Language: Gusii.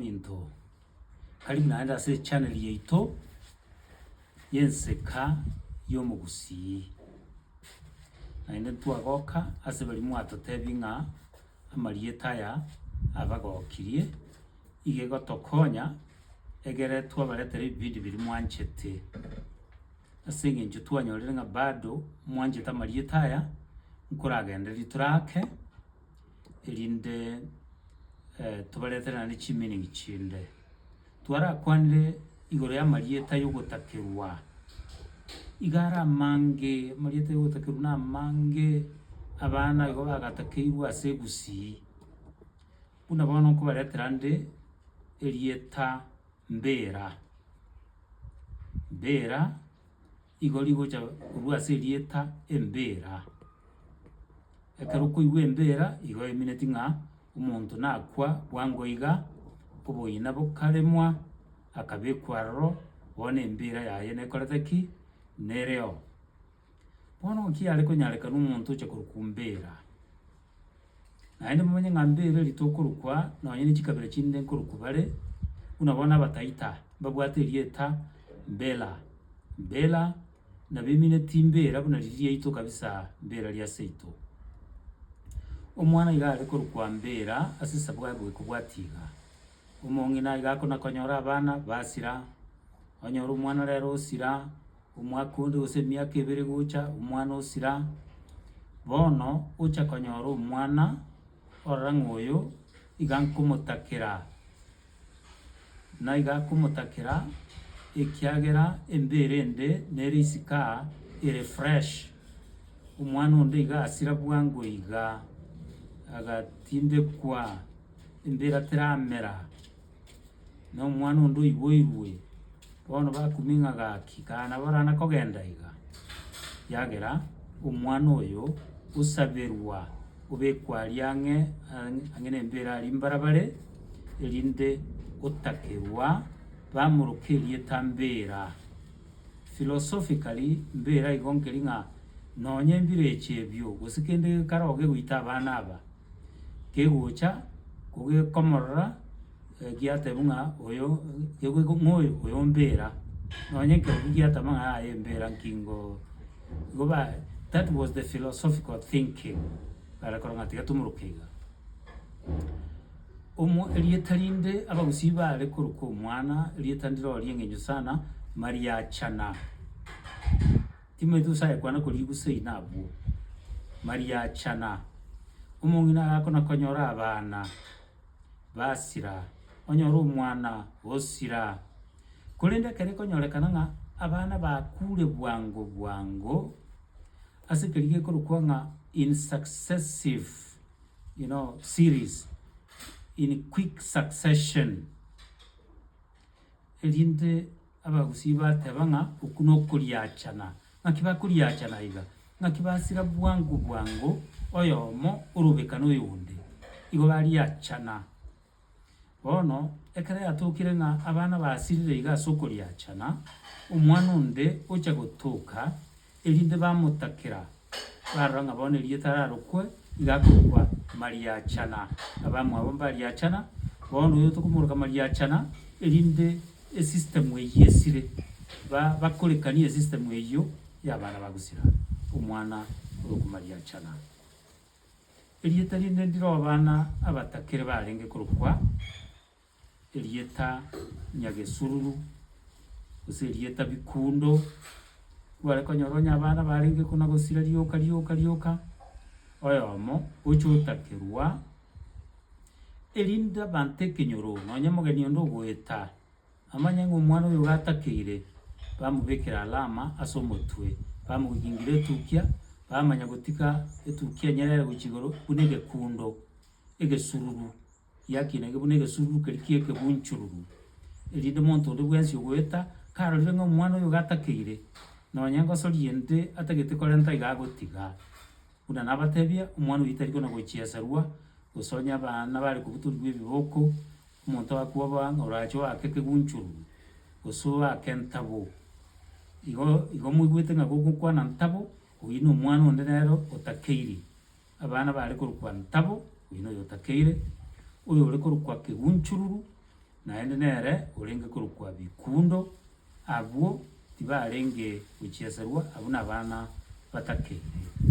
Into karibu naende ase echannel yaito y'Enseka y'Omogusii. Naende ntwagoka ase baria mwatotebia ng'a amarieta aya abagokirie, iga egotokonya egere twabaretere ebipindi biria mwanchete. Ase eng'encho twanyorire ng'a bado mwanchete amarieta aya, nkoragendereria tore ake. erinde tobaretere naende chimeaning chinde. Twarakwanire igoro y'amarieta y'ogotakerwa, iga are amange, amarieta y'ogotakerwa na amange, abana igo bagatakeirwe ase egusii, buna bono nkobaretera nde erieta Mbera. Mbera. Igo rigocha korwa ase erieta Embira. Ekero okoigwa Embira, igo emineti ng'a omonto nakwa bwango iga, oboina bokaremwa, akabekwa aroro, bono Embira yaye nekorete ki? Nereo. Bono naki yare konyarekana omonto oche korokwa Embira? Naende momanye ng'a mbeereri ritokorokwa nonye ne chikabira chinde nkorokwa bare, buna bono Abataita mbabwate erieta Mbela. Mbela nabemineti Mbeera buna riria riaito kabisa Mbeera ria seito. Omwana iga are korokwa Mbeera ase esabo yaye boika obwati iga. Omong'ina iga akona konyora abana basira, onyore omwana rero osira. Omwaka onde gose emiaka ebere gocha, omwana osira bono ocha konyora omwana orora ng'a oyo iga nkomotakera, naiga akomotakera ekiagera embeera ende nere isiko ere fresh. Omwana onde iga asira bwango iga, agatindekwa, embeera teramera. na omwana onde oiboirwe, bono bakumia ng'a gaki, kana barana kogenda iga, ekiagera omwana oyo osaberwa, obekwa aria ang'e ang'- ang'e na embere aria mbarabare, erinde otakerwa, bamoroke erieta mbera. Philosophically, mbera igo nkeri ng'a nonye ebirecha ebio, gose kende kekare ogegoita abana aba, kegocha kogekomorora giatebwa ng'a oyo kegweko ng'a oyo oyo mbera, nonye nkerokia giateba ng'a aye mbera nki ngoo igo ba that was the philosophical thinking bare korora ng'a tiga timoruke iga. Omo erieta rinde abagusii bare koruka omwana, erieta ndire rirorio ring'encho sana, mariachana. Timotheus agekwana kori Gusii ina abwo, Mariachana, omong'ina agakona konyora abana ba Sira, onyore omwana o Sira. Korende ekero ekonyorekana ng'a abana bakure bwango bwango, ase keri gekorokwa ng'a in successive, you know, series, in quick succession, erinde. Abagusii bateba ng'a oku nokoriachana. Ng'aki bakoriachana iga? Ng'aki basira bwango bwango oyomo orobe-ka noyonde? Igo bariachana. Bono ekero yatokire ng'a abana basirire iga as'okoriachana, omwana onde ocha gotoka, Erinde bamotakera, barora ng'a bono erieta ararokwe iga akorokwa Mariachana. Abamwabo mbariachana, bono oyo tokomoroka Mariachana, erinde esistemu eyio esire, ba bakorekanie esistemu eyio y'abana ba gusira omwana orokwe Mariachana. Erieta rinde ndire obana abatakere barenge korokwa. erieta Nyagesururu, gose erieta Bikundo, kware konyora onye abana barenge ko nagosira rioka rioka rioka, oyomo oche otakerwa, erinde abanto ekenyororo nonye omogeni onde ogoeta amanye ng'a omwana oyo iga atakeire, bamobekera alama ase omotwe, bamogingira etukia, bamanya gotiga etukia enyerere gochia igoro buna egekundo, egesururu. yakinanire buna egesururu keria ki'ekegunchururu, erinde monto onde bwensi ogoeta karorire ng'a omwana oyo iga atakeire, nonya ngosoria ende atagete korenta iga agotiga. Buna nabatebie, omwana oyo tari kona gochieserwa, gose onye abana bare kobutorigwa ebiboko, omonto akoba ng'a orache oake ekegunchururu, gose oake entabo. Igo igo moigwete ng'a gogokwana ntabo, oyio nomwana onde nere otakeiri. Abana bare korokwa Ntabo, oyio noyo otakeire, oyo ore korokwa Kegunchururu, naende nere orenge korokwa Bikundo, abwo tibarenge gochieserwa, abwo nabana batakeirwe.